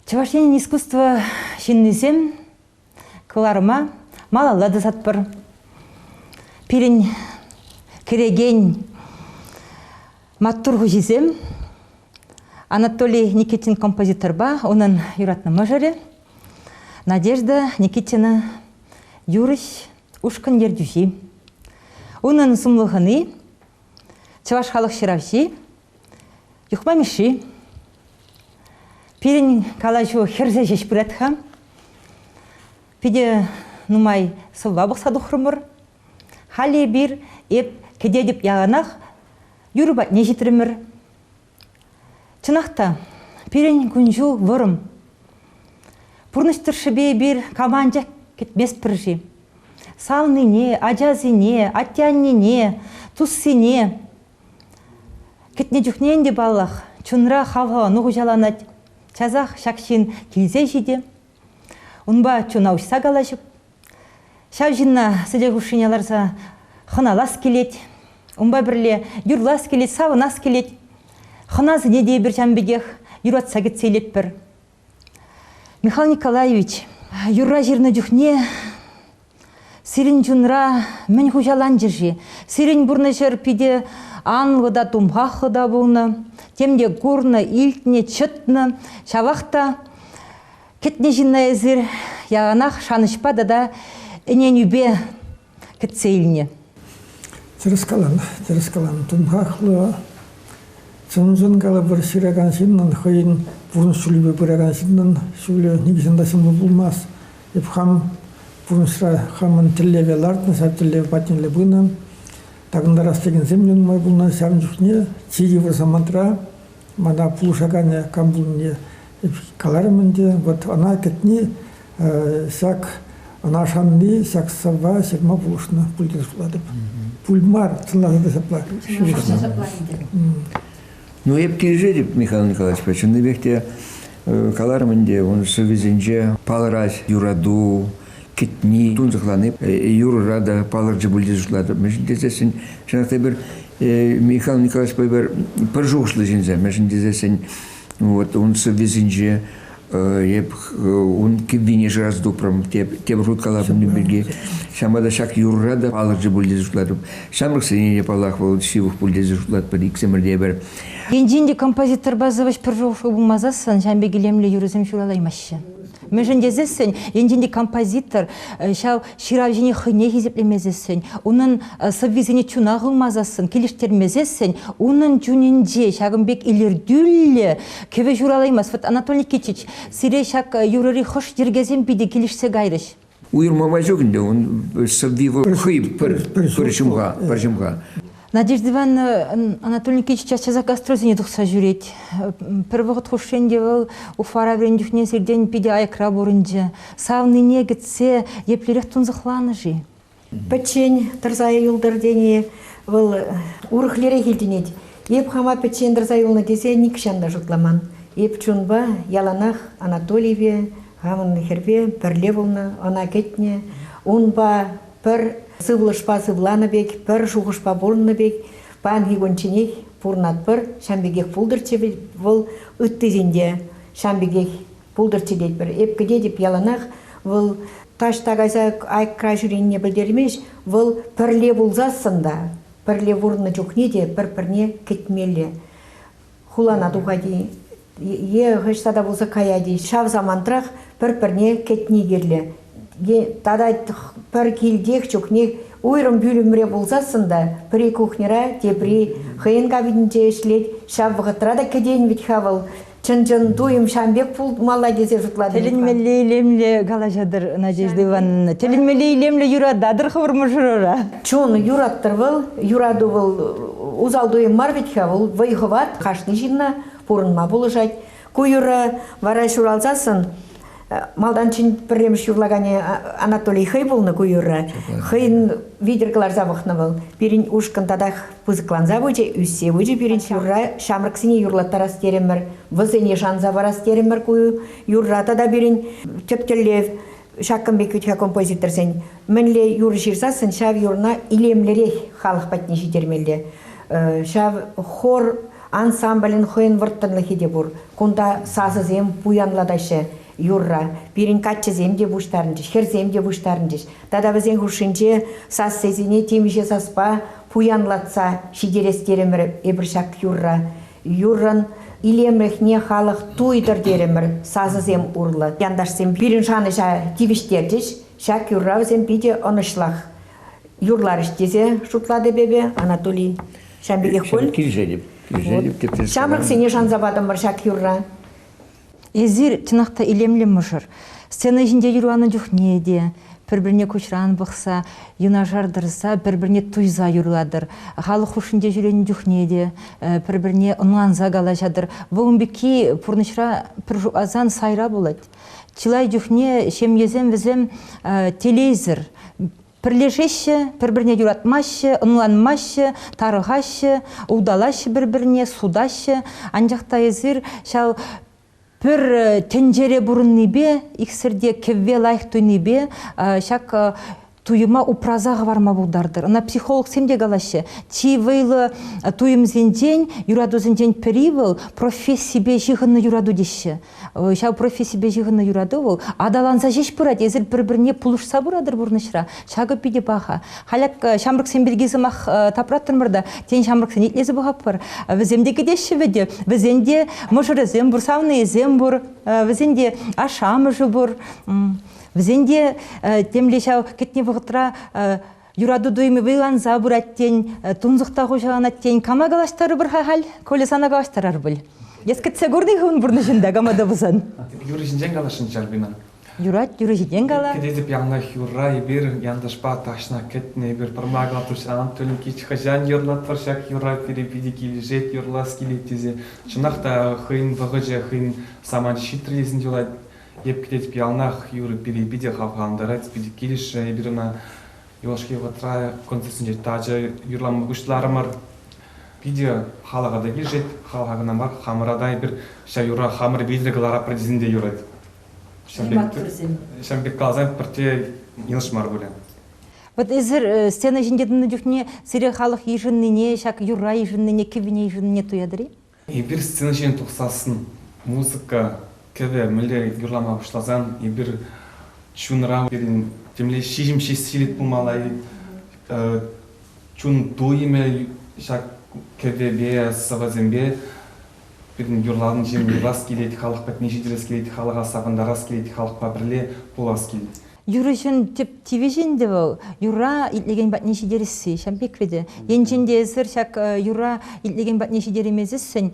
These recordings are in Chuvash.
Чӑваш Енӗн искусство ҫыннисем кӑларӑма малалла тӑсатпӑр. Пирӗн кӗрекен маттур хуҫисем Анатолий Никитин композиторпа унӑн юратнӑ мӑшӑрӗ Надежда Никитина юрӑҫ, ушкӑн ертӳҫи. Унӑн сумлӑ хӑни, чӑваш халӑх ҫыравҫи Юхма Мишши, пирӗн калаҫу хӗрсе ҫеҫ пырать-ха. Питӗ нумай сӑвва пӑхса тухрӑмӑр. Халӗ эпир эп кӗтетӗп яланах юрӑ патне ҫитрӗмӗр. Чӑнах та, пирӗн кун-ҫул вӑрӑм. Пурнӑҫ тӑршшӗпе эпир кама анчах кӗтместпӗр-ши? Савнине, ачасене, атте-аннене, туссене Кӗтнӗ чухне ӗнтӗ, паллах, чунра хавхалану хуҫаланать. Часах ҫак ҫын килсе ҫитӗ. Унпа чуна уҫса калаҫӑп. Ҫав ҫынна сӗтел хушшине ларса хӑналас килет. Унпа пӗрле юрлас килет, савӑнас килет. Хӑнасене те эпир ҫавӑн пекех юратса кӗтсе илетпӗр. Михаил Николаевич, юрра ҫырнӑ чухне сирӗн чунра мӗн хуҫаланчӗ-ши? Сирӗн пурнӑҫӑр питӗ анлӑ та тумхахлӑ та пулнӑ, тем те курнӑ, илтнӗ, чӑтнӑ. Ҫавах та кӗтнӗ ҫынна эсир яланах шанӑҫпа тата ӗненӳпе кӗтсе илнӗ. Тӗрӗс калан, тӗрӗс калан. Тумхахлӑ, чӑн-чӑн калӑпӑр, ҫыракан ҫыннӑн, хӑйӗн пурнӑҫ ҫулӗпе пыракан ҫыннӑн ҫулӗ нихӑҫан та ҫӑмӑл пулмасть. Эп хам пурнӑҫра хамӑн тӗллеве лартнӑ, ҫав тӗллев патнелле пынӑ. Такӑнтарас текенсем те нумай пулнӑ. Ҫавӑн чухне чи йывӑр самантра мана пулӑшаканӗ кам пулнине Каларӑм ӗнтӗ, вот ӑна кӗтни ҫак, ӑна шанни ҫак сӑвва ҫырма пулӑшнӑ, пултӑр шутлатӑп. Пуль мар, чӑнласа та ҫапла ҫырӑҫнӑ. Ну, эп килӗшетӗп Михаил Николаевичпа. Чӑннипех те каларӑм ӗнтӗ, ун сӑввисенче палӑрать юрату, кӗтни, тунсӑхлани. Юрӑра та палӑрчӗ пуль тесе шутлатӑп. Мӗншӗн тесессӗн, чӑнах та эпир Михаил Николаевичпа эпир пӗр шухӑшлӑ ҫынсем. Мӗншӗн тесессӗн Вот ун сӑввисенче эп ун кӗввине шырас тупрӑм тепӗр хут калаҫнӑ пирки. Ҫама та ҫак юрра та палӑрчӗ пуль тесе шутлатӑп. Ҫамрӑксене те паллах вӑл ҫывӑх пуль тесе шутлатпӑр иксӗмӗр те пӗр. Енчен те композиторпа сӑвӑҫ пӗр шухӑшлӑ пулмасассӑн ҫam пек илемлӗ юрӑсем ҫуралаймаҫҫӗ. Мӗншӗн тесессӗн, енчен те композитор ҫав ҫыравҫине хӑйне хисеплемесессӗн, унӑн сӑввисене чуна хывмасассӑн, килӗштермесессӗн унӑн чунӗнче ҫакӑн пек илӗртӳллӗ кӗвӗ ҫуралаймасть. Вот Анатолий Никитич, сире ҫак юрӑри хӑш йӗркесем питӗ килӗшсе кайрӗҫ? Уйӑрмапа ҫук ӗнтӗ, ун сӑвви вӑл хӑй пӗр ҫумха, пӗр ҫумха. Надежда Ивановна Анатолий Николаевич час-часах гастрольсене тухса ҫӳрет. Пӗр вӑхӑт хушшин те вӑл Уфара вӗреннӗ чухне сиртен питӗ аякра пурӑнчӗ. Савнине кӗтсе еплерех тунсӑхланӑ-ши? Пӗччен тӑрса юлтӑр тени вӑл урӑхлерех илтӗнет. Эп хама пӗччен тӑрса юлнӑ тесе нихҫан та шутламан. Эп чунпа яланах Анатолиеве, хамӑн хӗрпе пӗрле пулнӑ, ӑна кӗтнӗ. Унпа пӗр сывлӑшпа сывланӑ пек, пӗр шухӑшпа пурӑннӑ пек, паянхи кунчченех пурӑнатпӑр. Ҫавӑн пекех пултӑрччӗ вӑл ыттисенте, ҫавӑн пекех пултӑрччӗ тетпӗр. Эп кӗтетӗп яланах вӑл таҫта кайса айкра ҫӳренине пӗлтермест, вӑл пӗрле пулсассӑн та, пӗрле пурӑннӑ чухне те пӗр-пӗрне кӗтмелле. хулана тухать-и е хӑҫта та пулса каять-и ҫав самантрах пӗр-пӗрне кӗтни кирлӗ е тата пӗр килтех чухне уйрӑм пӳлӗмре пулсассӑн та пӗри кухньӑра тепри хӑйӗн кабининче ӗҫлет ҫав вӑхӑтра та кӗтен вӗт-ха вӑл чӑн-чӑн туйӑм ҫам пек пулмалла тесе шутлатӑп. Тӗлӗнмелле илемлӗ калаҫатӑр, Надежда Ивановна. Тӗлӗнмелле илемлӗ юрататӑр хӑвӑр мӑшӑрӑра. Чун, юраттӑр вӑл. Юрату вӑл усал туйӑм мар вӗт-ха, вӑл вӑй хӑват, кашни ҫынна пурӑнма пулӑшать. Ку юрӑ вара ҫуралсассӑн малтанччен пӗрремӗш юрлаканӗ Анатолий хӑй пулнӑ ку юрра. Хӑйӗн витӗр кӑларса пӑхнӑ вӑл. Пирӗн ушкӑн татах пысӑкланса пычӗ, ӳссе пычӗ пирӗн юрра. Ҫамрӑксене юрлаттарас терӗмӗр, вӗсене шанса парас терӗмӗр ку юрра. Тата пирӗн тӗп тӗллев ҫакӑн пек ӳтхӗ композиторсен мӗнле юр ҫырсассӑн ҫав юрна илемлӗрех халӑх патне ҫитермелле. Ҫав хор ансамблӗн хӑйӗн вӑрттӑнлӑхӗ те пур. Кунта сасӑсем пуянлатаҫҫӗ юрра. Пирӗн каччӑсем те пуҫтарӑнчӗҫ, хӗрсем те пуҫтарӑнчӗҫ. Тата вӗсен хушшинче сассисене темиҫе саспа пуянлатса ҫитерес терӗмӗр эпир ҫак юрра. Юррӑн илемлӗхне халӑх туйтӑр терӗмӗр. Сасӑсем урлӑ. Янташсем пирӗн шанӑҫа тивӗҫтерчӗҫ. Ҫак юрра вӗсем питӗ ӑнӑҫлах юрларӗҫ тесе шутлатӑп эпӗ, Анатолий. Ҫавӑн пекех пуль? Килсенӗп. Килсенӗп. Ҫамрӑксене шанса патӑмӑр ҫак юрра. Эсир, чӑнах та, илемлӗ мӑшӑр. Сцена ҫинче юрланӑ чухне те пӗр-пӗрне куҫран пӑхса, юнашар тӑрса пӗр-пӗрне туйса юрлатӑр. Халӑх хушшинче ҫӳренӗ чухне те пӗр-пӗрне ӑнланса калаҫатӑр. Вӑл ун пекки пурнӑҫра пӗр шутласан сайра пулать. Чылай чухне ҫемьесем вӗсем телейсӗр Пӗрлешеҫҫӗ, пӗр-пӗрне юратмаҫҫӗ, ӑнланмаҫҫӗ, тарӑхаҫҫӗ, улталаҫҫӗ пӗр-пӗрне, сутаҫҫӗ. Анчах та эсир ҫав пӗр э, тӗнчере пурӑннипе, иксӗр те кӗвве лайӑх туйнипе ҫак туйӑма упраса хӑварма пултартӑр. Ӑна психологсем те калаҫҫӗ. Чи вӑйлӑ туйӑмсенчен, юратусенчен пӗри вӑл профессипе ҫыхӑннӑ юрату теҫҫӗ. ҫав профессипе ҫыхӑннӑ юрату вӑл аталанса ҫеҫ пырать эсир пӗр-пӗрне пулӑшса пыратӑр пурнӑҫра ҫакӑ питӗ паха халь ҫамрӑксем пирки сӑмах тапраттӑмӑр та тен ҫамрӑксене итлесе пӑхатпӑр вӗсем те кӗтеҫҫӗ вӗтӗ вӗсен те мӑшӑрӗсем пур савнийӗсем пур вӗсен те ашшӗ амӑшӗ пур вӗсен те темле ҫав кӗтнӗ вӑхӑтра Юрату туйӑмӗ вӑйланса пырать тен, э, тунсӑхта хуҫаланать тен, кама калаҫтарӑпӑр-ха халь? Коля сана калаҫтарар пуль. Эс кӗтсе курни-ха ун пурнӑҫӑнта кама та пулсан. Юрӑ ҫинчен каласшӑн Чарпина. Юрать, юрӑ ҫинчен кала. Кӗтетӗп янах юрра эпир, янташпа тахҫана кӗтнӗ эпир. Пӑрма калатусран Тюлькич хӑҫан юрлатпӑр ҫак юрра, пире питӗ килӗшет, юрлас килет тесе. Чӑнах та хӑйӗн вӑхӑчӗ хӑйӗн самант ҫитрӗ тесен юлать. Эп килет яланах юрӑ-пире питӗ хавхалантарать, питӗ килӗшрӗ эпир ӑна. Юлашки вӑхӑтра концертсенче тачӑ юрлама пуҫларӑмӑр. Питӗ халӑха та килӗшет, халӑха кӑна мар, хамӑра та эпир ҫав юра хамӑр вилтӗр кӑларапӑр тесен те юрать. Ҫавӑн пек- Симбатсӑрсем. ҫавӑн пек каласан пӗртте йӑнӑш мар пулӗ. Вӑт эсир э, сцена ҫинче тӑнӑ чухне сире халӑх йышӑннине, ҫак юрра йышӑннине, кӗввине йышӑннине туятӑр-и? Эпир сцена ҫине тухсассӑн музыка кӗвӗ мӗнле юрлама пуҫласан эпир чунра пирӗн темле ҫиҫӗм ҫеҫ пулмалла чун туйӑмӗ ҫак кӗвӗпе сӑвӑсемпе пирӗн юрлавӑн ҫине юрлас килет халӑх патне ҫитерес килет халӑха савӑнтарас килет халӑхпа пӗрле пулас килет. юрӑҫӑн тӗп тивӗҫӗ ӗнтӗ вӑл юра итлекен патне ҫитересси ҫав пек вӗт. Енчен те эсир ҫак юра итлекен патне ҫитереймесессӗн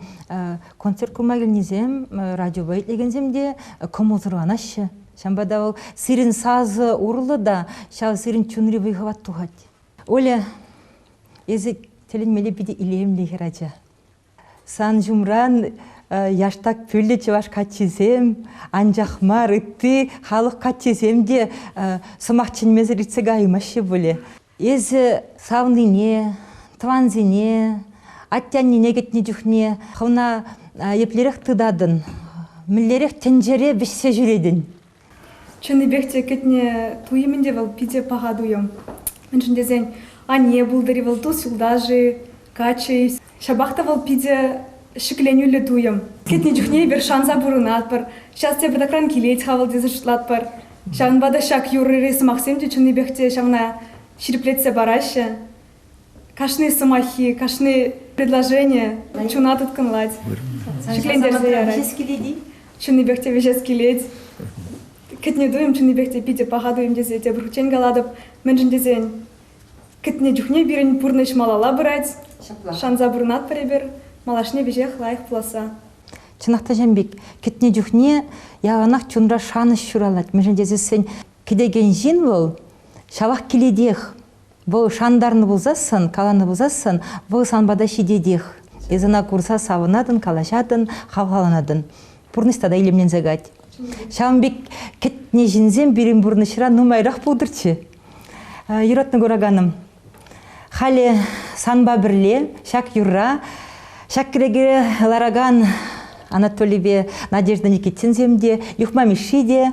концерт курма килнисем радиопа итлекенсем те кӑмӑлсӑрланаҫҫӗ. Ҫавӑнпа та вӑл сирӗн сасӑ урлӑ та ҫав сирӗн чунри вӑй-хӑват тухать. Оля, эсӗ тӗлӗнмелле питӗ илемлӗ хӗр ача. Сан ҫумран яштак пӳллӗ чӑваш каччисем, анчах мар ытти халӑх каччисем те сӑмах чӗнмесӗр иртсе каймаҫҫӗ пулӗ. Эсӗ савнине, тӑвансене, атте-аннене кӗтнӗ чухне хӑвна еплерех тытатӑн, мӗнлерех тӗнчере вӗҫсе ҫӳретӗн? Чӑннипех те кӗтнӗ туйӑмӗн те вӑл питӗ паха туйӑм. Мӗншӗн тесен анне пултӑр-и вӑл тус-юлташ-и, каччӑ-и, ҫапах та вӑл питӗ ҫӗкленӳллӗ туйӑм. Кӗтнӗ чухне эпир шанса пурӑнатпӑр, ҫав тепӗртакран килет-ха вӑл тесе шутлатпӑр. Ҫавӑнпа та ҫак юрри-сӑмахсем те чӑннипех те ҫавна ҫирӗплетсе параҫҫӗ. Кашни сӑмаххи, кашни предложение чуна тыткӑнлать, шиклентерсе ярать. Чӑннипех те вӗҫес килет. Кӗтне туйӑм чӑннипех те питӗ паха туйӑм тесе тепӗр хутчен калатӑп. Мӗншӗн тесен кӗтне чухне пирӗн пурнӑҫ малалла пырать. Шанса пурӑнатпӑр эпир малашне веҫех лайӑх пуласса. Чӑнах та ҫын пек, кӗтне чухне яланах чунра шанӑҫ ҫуралать. Мӗншӗн тесен кӗтекен ҫын вӑл ҫавах килетех. Вӑл шантарнӑ пулсассӑн, каланӑ пулсассӑн, вӑл сан пата ҫитетех. Эс ӑна курса савӑнатӑн, калаҫатӑн, хавхаланатӑн. Пурнӑҫ тата илемленсе кать. Ҫавӑн пек кӗтнӗ ҫынсем пирӗн пурнӑҫра нумайрах пултӑрччӗ. Юратнӑ кураканӑм, халӗ санпа пӗрле ҫак юрра, ҫак кӗнеке ларакан Анатолийпе Надежда Никитинсем те, Юхма Мишши те,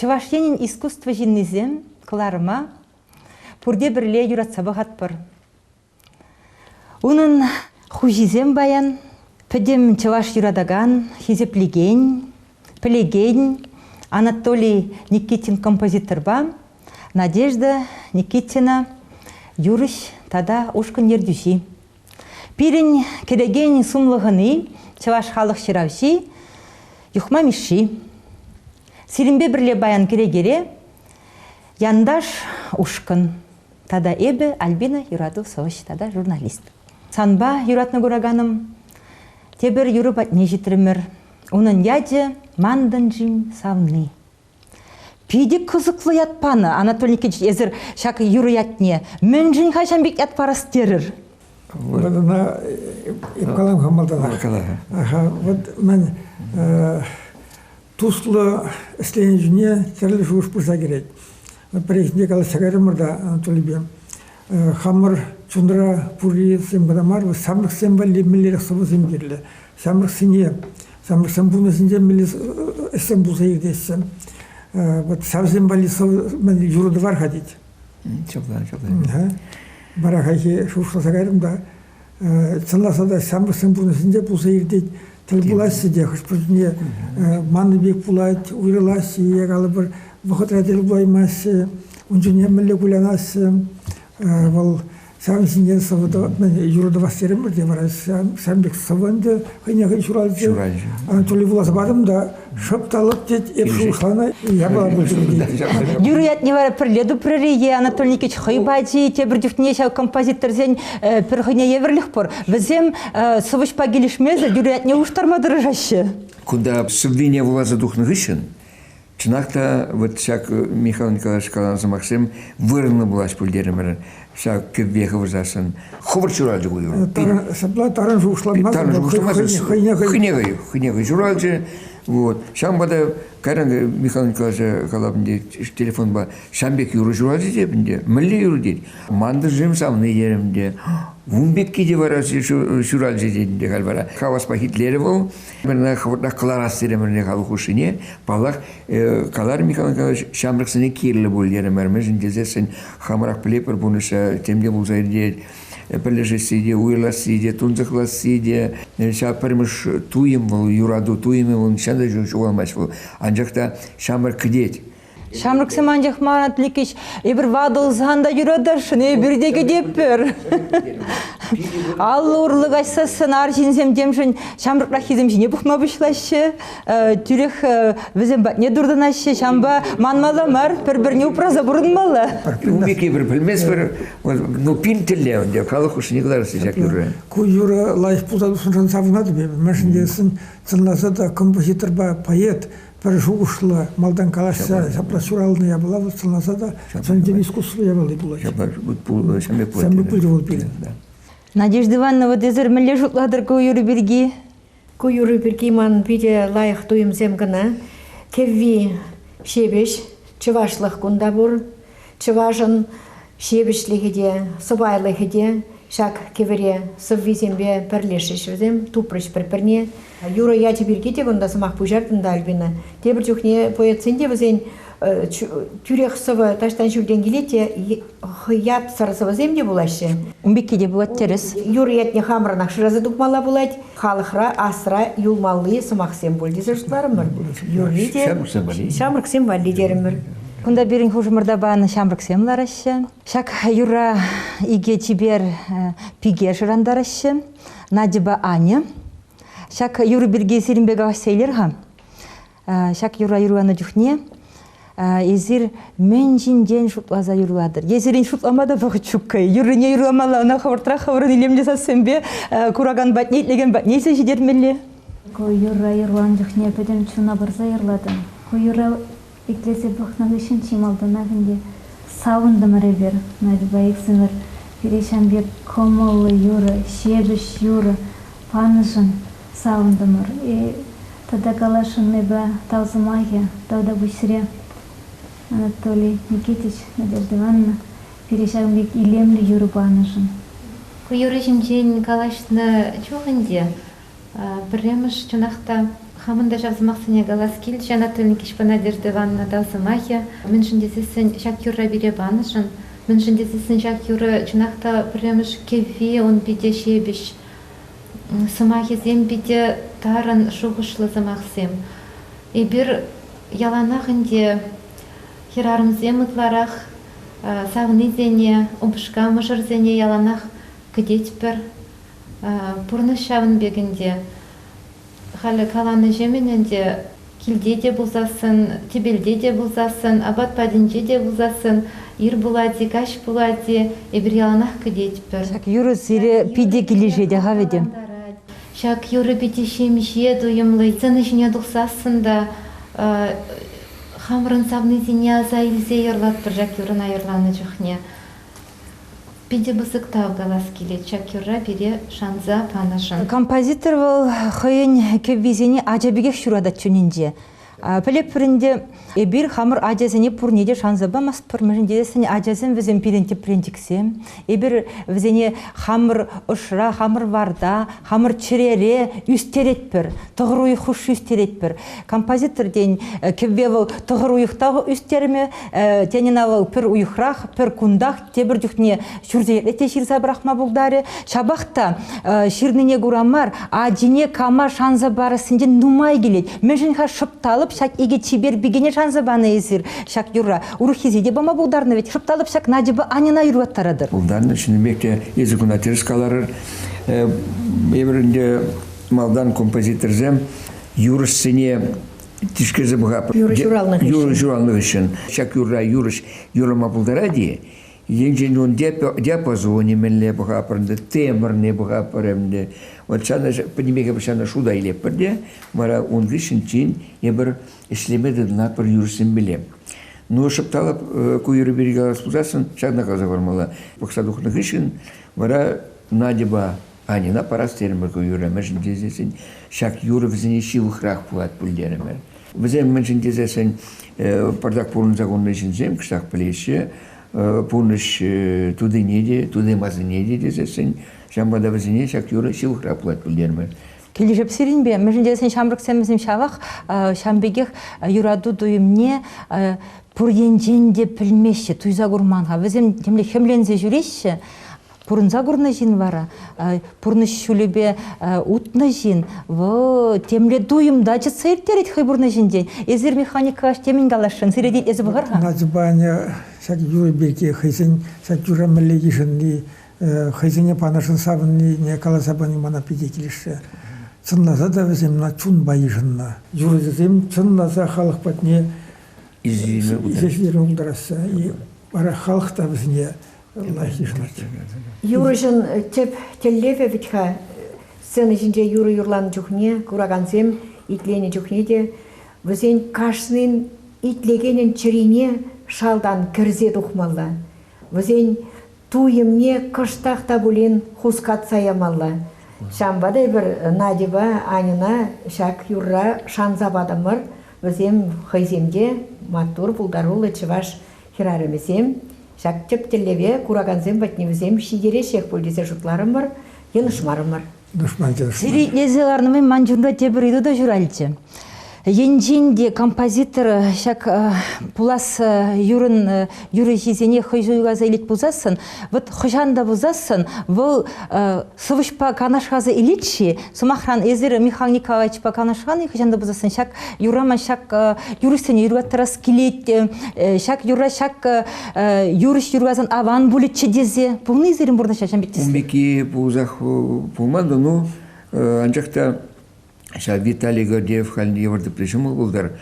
Чӑваш Енӗн искусство ҫыннисем кӑларӑма пурте пӗрле юратса пӑхатпӑр. Унӑн хуҫисем паян пӗтӗм чӑваш юратакан, хисеплекен, пӗлекен Анатолий Никитин композиторпа Надежда Никитина юрӑҫ тата ушкӑн ертӳҫи. Пирӗн кӗтекен сумлӑ хӑни чӑваш халӑх ҫыравҫи Юхма Мишши. Сирӗнпе пӗрле паян кӗрекере Янташ ушкӑн Тата эпӗ, Альбина юрату сӑвӑҫ тата журналист. Санпа юратнӑ кураканӑм тепӗр юрӑ патне ҫитрӗмӗр. Унӑн ячӗ Мантӑн джин савни. Питӗ кӑсӑклӑ ят панӑ. Анатолий Никитич, эсир ҫак юрӑ ятне мӗншӗн-ха ҫam пек ят парас терӗр? Вот она и в калам малтанах когда. Ага, вот мен Туслӑ ӗҫленӗ чухне тӗрлӗ шухӑш пырса кӗрет. Пӗррехинче калаҫса кайрӑмӑр та Анатолийпе. Хамӑр чунра пуррисем кӑна мар, вӑл ҫамрӑксем валли мӗнлерех сӑвӑсем кирлӗ. Ҫамрӑксене, ҫамрӑксем пурнӑҫӗнче мӗнле ӗҫсем пулса иртеҫҫӗ. Вот ҫавсем валли юрату var-ха тет. Çok güzel, çok güzel. Вара хайхи шухӑшласа кайрӑм та Чӑнласа та ҫамрӑксен пурнӑҫӗнче пулса иртет, тӗл пулаҫҫӗ те хӑш-пӗрисене маннӑ пек пулать, уйрӑлаҫҫӗ е калӑпӑр вӑхӑтра тӗл пулаймаҫҫӗ, ун чухне мӗнле кулянаҫҫӗ. Вӑл ҫавӑн ҫинчен сӑвӑ юрӑ тӑвас терӗмӗр те вара ҫавӑн пек сӑвӑ ӗнтӗ хӑйне хӑй ҫуралчӗ. Ҫуралчӗ. Тулли вуласа парӑм та Шӑпталӑк тет, эп шухӑшланӑ, япала пуҫланӑ. Юрий ятне вара пӗрле тупрӑр-и е Анатолий Никитич хӑй пачӗ тепӗр чухне ҫав композиторсен пӗр хӑйне евӗрлех пур. Вӗсем сӑвӑҫпа килӗшмесӗр Юрий ятне улӑштарма тӑрӑшаҫҫӗ. Кунта сӑввине вуласа тухнӑ хыҫҫӑн чӑнах та вот ҫак Михаил Николаевич каланӑ сӑмахсем вырӑнлӑ пулаҫ пуль терӗмӗр. ҫав кӗвве хывӑсассӑн хӑвӑрт ҫуралчӗ ку юр. Ҫапла таран шухӑшланмасть. Таран шухӑшланмасть. Хӑйне хӑй. Хӑйне хӑй, хӑйне хӑй ҫуралчӗ. Вот. Ҫавӑнпа та кайран Михаил Николаевича калап ӗнтӗ телефонпа ҫам пек юрӑ ҫуралчӗ теп ӗнтӗ. Мӗнле юрӑ тет. Мантӑшем савни терӗм ӗнтӗ. Ун пекки те вара ҫуралчӗ тет ӗнтӗ халь вара. Хаваспах итлерӗ вӑл. Пӗрне хӑвӑртах кӑларас терӗмӗрне халӑх хушшине. Паллах, каларӗ Михаил Михайлович, ҫамрӑксене кирлӗ пуль терӗмӗр. Мӗншӗн тесессӗн хамӑрах пӗлетпӗр пурнӑҫра тем те пулса иртет. Пӗрлешесси те, уйӑрасси те, тунсӑхласси те, ҫав пӗрмӗш туйӑм вӑл, юрату туйӑмӗ вӑл, нихҫан та ҫук ҫухалмасть вӑл. Анчах та ҫамрӑк кӗтет. Ҫамрӑксем анчах ман Атликич, эпир ватӑлсан та юратасшӑн, эпир те кӗтеппӗр. Аллӑ урлӑ каҫсассӑн арҫынсем темшӗн ҫамрӑкраххисем ҫине пӑхма пуҫлаҫҫӗ, тӳрех вӗсем патне туртӑнаҫҫӗ. Ҫампа манмалла мар, пӗр-пӗрне упраса пурӑнмалла. Умики эпир пӗлместпӗр, ну пин тӗлле ӗнтӗ, халӑх хушшине кӑларасчӗ ҫак юрре. Ку юрӑ лайӑх пултарулӑхшӑнран савӑнатӑп эпӗ, мӗншӗн тесен сӑнласа та композиторпа поэт пӗр шухӑшлӑ, малтан калаҫса ҫапла ҫуралнӑ япала вӑл сӑнласа та чӑн-чӑн искусство явалли пулать. Сӗмлӗ пулчӗ вӑл пирӗн. Надежда Ивановна, вот эсир мӗнле шутлатӑр ку юрӑ пирки? Ку юрӑ пирки ман питӗ лайӑх туйӑмсем кӑна. Кӗвви ҫепӗҫ, чӑвашлӑх кунта пур. Чӑвашӑн ҫивӗчлӗхӗ те, сӑпайлӑхӗ те ҫак кӗвӗре сӑввисемпе пӗрлешрӗҫ вӗсем, тупрӗҫ пӗр-пӗрне. Юрӑ ячӗ пирки те кунта сӑмах пуҫартӑм та, Альбина. Тепӗр чухне поэтсен те вӗсен тӳрех сӑвӑ таҫтан ҫӳлтен килет те ятсӑр сӑвӑсем те пулаҫҫӗ. Ун пекки те пулать тӗрӗс. Юрӑ ятне хамӑрӑнах шыраса тупмалла пулать. халӑхра асра юлмалли сӑмахсем пуль тесе шутларӑмӑр. Юрри те ҫамрӑксем валли. Ҫамрӑксем валли терӗмӗр. Кунта пирӗн хушӑмӑрта панӑ ҫамрӑксем лараҫҫӗ. Ҫак юрра икӗ чипер пике шӑрантараҫҫӗ. Надьӑпа Аня. Ҫак юрӑ пирки сирӗнпе калаҫса илер-ха. Ҫак юрра юрланӑ чухне эсир мӗн ҫинчен шутласа юрлатӑр? Е сирӗн шутлама та вӑхӑт ҫуккӑ юррине юрламалла, ӑна хӑвӑртрах хӑвӑрӑн илемлӗ сассемпе куракан патне, итлекен патне илсе ҫитермелле. Ку юрра юрланӑ чухне пӗтӗм чуна парса юрлатӑн. Ку юрра итлесе пӑхнӑ хыҫҫӑн чи малтанах ӗнтӗ савӑнтӑмӑр эпир. Надьӑпа иксӗмӗр пире ҫam пек кӑмӑллӑ юрӑ, ҫепӗҫ юрӑ панӑшӑн Савӑнтӑмӑр. Тата каласшӑннипе тав сӑмахӗ тавта пуҫре Анатолий Никитич, Надежда Ивановна, пире ҫавӑн пек илемлӗ юрӑ панӑшӑн. Ку юрӑ ҫинчен калаҫнӑ чух ӗнтӗ пӗрремӗш чӑнах та хамӑн та ҫав сӑмахсене калас килчӗ, Анатолий Никитичпа Надежда Ивановна тав сӑмахӗ мӗншӗн тесессӗн ҫак юрра пире панӑшӑн, мӗншӗн тесессӗн ҫак юрӑ чӑнах та пӗрремӗш кӗвви, ун питӗ ҫепӗҫ, сӑмахӗсем питӗ тарӑн шухӑшлӑ сӑмахсем. Эпир яланах ӗнтӗ хӗрарӑмсем ытларах савнисене, упӑшка мӑшӑрсене яланах кӗтетпӗр. Пурнӑҫ ҫавӑн пек ӗнтӗ. Халӗ каланӑҫемӗн ӗнтӗ Килте те пулсассӑн, тӗпелте те пулсассӑн, апат патӗнче те пулсассӑн, ир пулать-и, каҫ пулать-и, эпир яланах кӗтетпӗр. Ҫак юрӑ сире питӗ килӗшетех-ха, Вӗтӗ. Ҫак юрӑ питӗ ҫемҫе, туйӑмлӑ. Сцена ҫине тухсассӑн та хамӑрӑн савнисене аса илсе юрлатпӑр ҫак юрӑна юрланӑ чухне. Питӗ пысӑк тав калас килет ҫак юрра пире шанса панӑшӑн. Композитор вӑл хӑйӗн кӗввисене ача пекех ҫуратать чунӗнче. Пӗлӗпӗр ӗнтӗ, эпир хамӑр ачасене пурне те шанса памастпӑр, мӗншӗн тесен ачасем вӗсем пирӗн тӗпренчӗксем. Эпир вӗсене хамӑр ӑшра, хамӑр варта, Хамӑр чӗрере ӳстеретпӗр, тӑхӑр уйӑх хушши ӳстеретпӗр. Композитор тен, кӗвве вӑл тӑхӑр уйӑхтах ӳстермӗ, тен ӑна вӑл пӗр уйӑхрах, пӗр кунтах тепӗр чухне ҫурсерен те ҫырса пӑрахма пултарӗ. Ҫапах та ҫырнине кура мар, ачине кама шанса парассинчен нумай килет. Мӗншӗн-ха шӑпталӑп ҫак икӗ чипер пикене шанса панӑ эсир ҫак юрра? Урӑххисе те пама пултарнӑ вӗт, шӑпталӑп ҫак Надьӑпа Аньӑна юрлаттаратӑр. Пултарнӑ, чӑн пек те, эсӗ куна тӗрӗс каларӑр. Эпир ӗнтӗ малтан композиторсем юрӑҫсене тишкерсе пӑхатпӑр. Юрӑ ҫуралнӑ хыҫҫӑн. Юрӑ ҫуралнӑ хыҫҫӑн. Ҫак юрра юрӑҫ юрӑма пултарать-и? Енчен ун диапазонӗ мӗнле пӑхатпӑр ӗнтӗ, темӗрне пӑхатпӑр ӗнтӗ. Вот ҫана, пӗтӗмпех эпир ҫана шута илетпӗр те, вара ун хыҫҫӑн тин эпир ӗҫлеме тытӑнатпӑр юрӑҫсемпеле. Ну, шӑпталӑп ку юрӑ пирки калас пулсассӑн, ҫакна каласа пармалла. Пӑхса тухнӑ хыҫҫӑн Вара Надьӑпа Аньӑна парас терӗмӗр ку юрра, мӗншӗн тесен ҫак юрӑ вӗсене ҫывӑхрах пулать пуль терӗмӗр. Вӗсем мӗншӗн тесен пӑртак пурӑнса курнӑ ҫынсем кӑштах пӗлеҫҫӗ, пурнӑҫ тутине те, тутимасине те тесессӗн ҫавӑнпа та вӗсене ҫак юрӑ ҫывӑхрах пулать пуль терӗмӗр. Килӗшӗп сирӗнпе. Мӗншӗн тесен ҫамрӑксем вӗсем ҫавах ҫавӑн пекех юрату туйӑмне пур енчен те пӗлмеҫҫӗ, туйса курман-ха. Вӗсем темле хӗмленсе ҫӳреҫҫӗ. Пурӑнса курнӑ ҫын вара, пурнӑҫ ҫулӗпе утнӑ ҫын, вӑл темле туйӑм та чӑтса ирттерет хӑй пурнӑҫӗнчен. Эсир механик калаш темӗн каласшӑн, сире тет, эсӗ пӑхар-ха. Надьӑпа Аня ҫак юрӑ пирки хӑйсен ҫак юрра мӗнле йышӑнни хӑйсене панӑшӑн савӑннине каласа пани мана питӗ килӗшрӗ. Чӑнласа та вӗсем мана чунпа йышӑннӑ. Юрӑҫӑсем чӑнласа халӑх патне ешерме пултараҫҫӗ. Вара халӑх та вӗсене лайӑх йышӑнать. Юрӑҫӑн тӗп тӗллевӗ вӗт-ха сцена ҫинче юрӑ юрланӑ чухне, куракансем итленӗ чухне те вӗсен кашнин итлекенӗн чӗрине шалтан кӗрсе тухмалла. Вӗсен Туйӑмне кӑштах та пулин хускатса ямалла. Ҫавӑнпа та эпир Надьӑпа Аньӑна ҫак юрра шанса патӑмӑр. Вӗсем хӑйсем те маттур, пултаруллӑ чӑваш хӗрарӑмӗсем. Ҫак тӗп тӗллеве куракансем патне вӗсем ҫитереҫҫех пуль тесе шутларӑмӑр, йӑнӑшмарӑмӑр. Душман тӗлӗшне. Серитлесе ларнӑ ман чунра тепӗр ыйту та ҫуралчӗ. Енчен те композитор ҫак пулас юрӑн юрӑҫисене хӑй суйласа илет пулсассӑн, вот хӑҫан та пулсассӑн вӑл сӑвӑҫпа канашласа илет-ши, сӑмахран, эсир Михаил Николаевичпа канашлан-и хӑҫан та пулсассӑн ҫак юрра ман ҫак юрӑҫсене юрлаттарас килет, ҫак юрра ҫак юрӑҫ юргасан аван пулӗччӗ тесе пулни сирӗн пурнӑҫа ҫын пек тесен. Пулмики пулсах пулман та ну анчах та ҫав Виталий Гордеев халь йывӑр тӗплӗ ҫумӑр пултар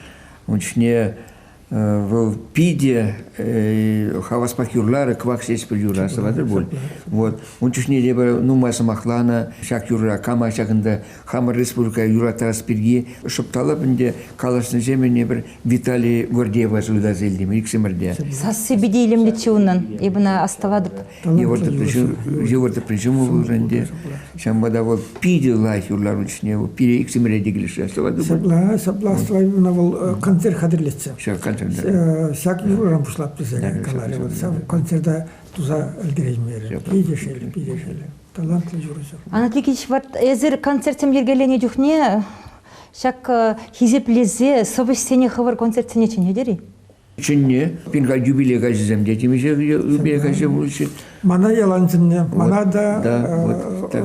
ун чухне вӑл питӗ хаваспах юрларӗ кӑвак ҫеҫпӗл юрра сӑватӑр пуль вот ун чухне те нумай сӑмахланӑ ҫак юрра кама ҫакӑнта хамӑр республика юратас пирки шӑпталап ӗнтӗ калаҫнӑҫем ӗне пӗр Виталий Гордеева суйласа илтӗм иксӗмӗрте. Сассипе те илемлетчӗ унӑн. Эпӗ ӑна астӑватӑп. Йывӑртӑпран ҫуму пулнӑ ӗнтӗ. Ҫавӑнпа та вӑл питӗ лайӑх юрлар учне. Пире иксӗмӗре те килӗшрӗ. Астӑватӑп. Ҫапла, ҫапла астӑваймана вӑл концерт хатӗрлетчӗ. Ҫак концерт. Ҫак юрӑран пуҫлап тесе каларӗ вӑл. Ҫав концерта туса ӗлкӗреймерӗ. Питӗ шел, питӗ шел. талантлӑ юрӑҫӑр. Анатикич, вот эсир концертсем йӗркеленӗ чухне ҫак хисеплесе сӑвӑҫсене хӑвӑр концертсене чӗнетӗр-и? Чӗнне, пин юбилей каҫӗсем те темиҫе юбилей каҫӗ пулчӗ. Мана ялан чӗннӗ. Мана та,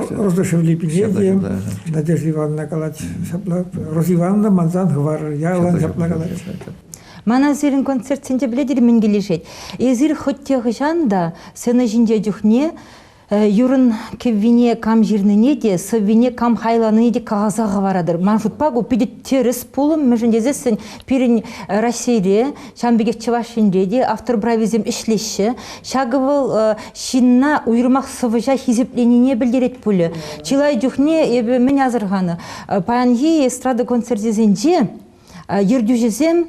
Рождашевли пине Надежда Ивановна калать. Ҫапла, Роза Ивановна мансан хӑварӑр. Ялан ҫапла калать. Мана сирӗн концертсенче пӗлетӗр мӗн килӗшет. Эсир хӑть те хӑҫан та сцена ҫинче чухне юрӑн кӗввине кам ҫырнине те, сӑввине кам хайланине те каласа хӑваратӑр. Ман шутпа, ку питӗ тӗрӗс пулӑм, мӗншӗн тесессӗн пирӗн Раҫҫейре, ҫавӑн пекех Чӑваш Енре те автор прависем ӗҫлеҫҫӗ. Ҫакӑ вӑл ҫынна уйрӑмах сӑвӑҫа хисепленине пӗлтерет пулӗ. Чылай чухне эпӗ мӗн асӑрханӑ, паянхи эстрада концерчӗсенче ертӳҫӗсем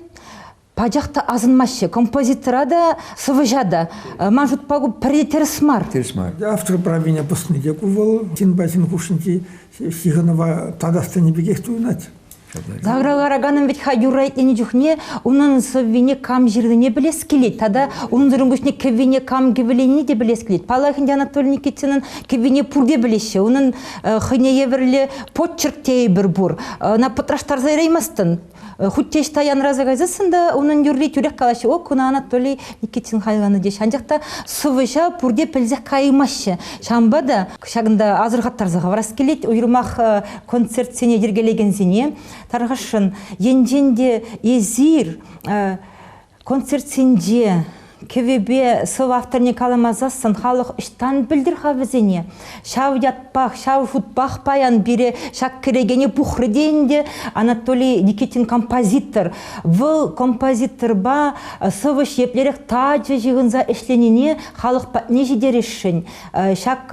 Пачах та асӑнмаҫҫӗ. Композитора та, сӑвӑҫа та. Э, ман шутпа ку пӗри тӗрӗс мар. Тӗрӗс мар. Автор правине пӑсни те ку вӑл ҫынпа ҫын хушшинчи ҫыхӑнӑва татас тенӗ пекех туйӑнать. Загралараканӑн вӗт ха юрра чухне унӑн сӑввине кам ҫырнине пӗлес килет тата унсӑрӑн пуҫне кӗввине кам кӗвӗленине те пӗлес килет. Паллах ӗнтӗ Анатолий Никитинӑн кӗввине пурте пӗлеҫҫӗ. Унӑн э, хӑйне евӗрлӗ почерк тейӗпӗр пур. Ӑна пӑтраштарса яраймастӑн. Хуть те ӑҫта янраса кайсассӑн та унӑн юрри тӳрех калаҫҫӗ, о, куна Анатолий Никитин хайланӑ теҫ. Анчах та сӑвӑҫа пурте пӗлсех каймаҫҫӗ. Ҫавӑнпа та ҫакӑнта асӑрхаттарса хӑварас килет, уйрӑмах концертсене йӗркелекенсене. Тархасшӑн, енчен те эсир Концертсенче кӗвӗпе сӑв авторне каламасассӑн халӑх ӑҫтан пӗлтӗр-ха вӗсене? Ҫав ятпах, ҫав шутпах паян пире ҫак кӗрекене пухрӗ те ӗнтӗ Анатолий Никитин композитор. Вӑл композиторпа сӑвӑҫ еплерех тачӑ ҫыхӑнса ӗҫленине халӑх патне ҫитересшӗн. Ҫак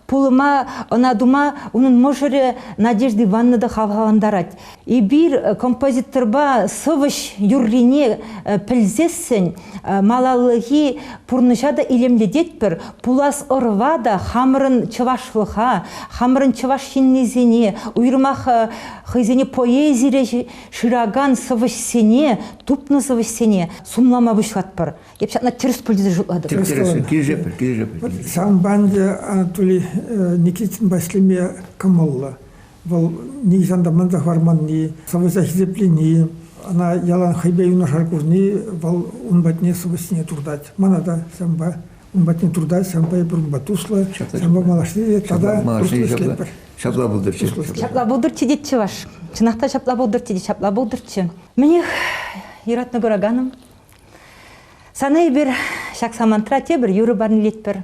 пулӑма ӑна тума унӑн мӑшӑрӗ Надежда Ивановна та хавхалантарать. Эпир композиторпа сӑвӑҫ юррине пӗлсессӗн малаллахи пурнӑҫа та илемлететпӗр, пулас ӑрӑва та хамӑрӑн чӑвашлӑха, хамӑрӑн чӑваш ҫыннисене, уйрӑмах хӑйсене поэзире шыракан сӑвӑҫсене, тупнӑ сӑвӑҫсене сумлама пуҫлатпӑр. Эп ҫакна тӗрӗс пуль тесе шутлатӑп. Тӗрӗс, килӗшетпӗр, килӗшетпӗр. Сан панчӗ Анатолий Никитин Ваҫлейпе кӑмӑллӑ. Вӑл нихӑҫан та манса хӑварманни, сӑвӑса хисеплени, ӑна ялан хӑйпе юнашар курни вӑл ун патне сӑвӑсене туртать. Мана та ҫавӑнпа ун патне туртать, ҫавӑнпа эпир унпа туслӑ, ҫавӑнпа малашне те тата туслӑ ӗҫлетпӗр. Ҫапла пултӑрччӗ. Ҫапла пултӑрччӗ тет чӑваш. Чӑнах та ҫапла пултӑрччӗ те ҫапла пултӑрччӗ. Мӗнех, юратнӑ кураканӑм, сана эпир ҫак самантра тепӗр юрӑ парнелетпӗр.